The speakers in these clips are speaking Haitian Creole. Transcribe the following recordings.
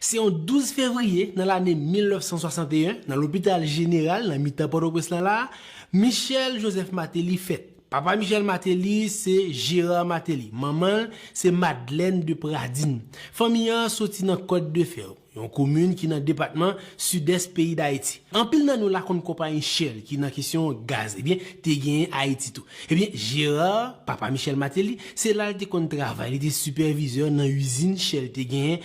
Se yon 12 fevriye nan lane 1961, nan lopital jeneral nan mitan Pòtoprens lan la a, Michel Joseph Martelly fèt. Papa Michel Martelly se Gérard Martelly, manman l se Madeleine de Pradines. Fanmi an soti nan Côte de Fer, yon komin ki nan depatman Sidès peyi Dayiti. Anpil nan nou la konn konpayi Shell ki nan kesyon gaz, ebyen te genyen Ayiti tou. Ebyen Gérard, papa Michel Martelly, se la l te konn travay, li te sipèvizè nan izin Shell te genyen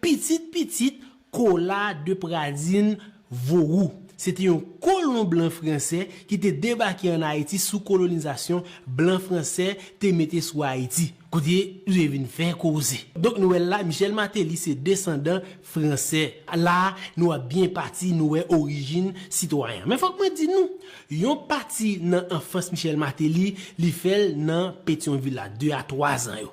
Pitit pitit Kola de Pradin Vorou se te yon kolon blan franse ki te debake ann Ayiti sou kolonizasyon blan franse te mete sou Ayiti, kote li te vin fè koze. Donk nou wè l la, Michel Martelly se desandan franse. La a, nou ap byen pati, nou wè orijin sitwayen an. Men fòk mwen di nou, Yon pati nan anfans Michel Martelly, li fè l nan Petyonvil la, 2 a 3 zan yo.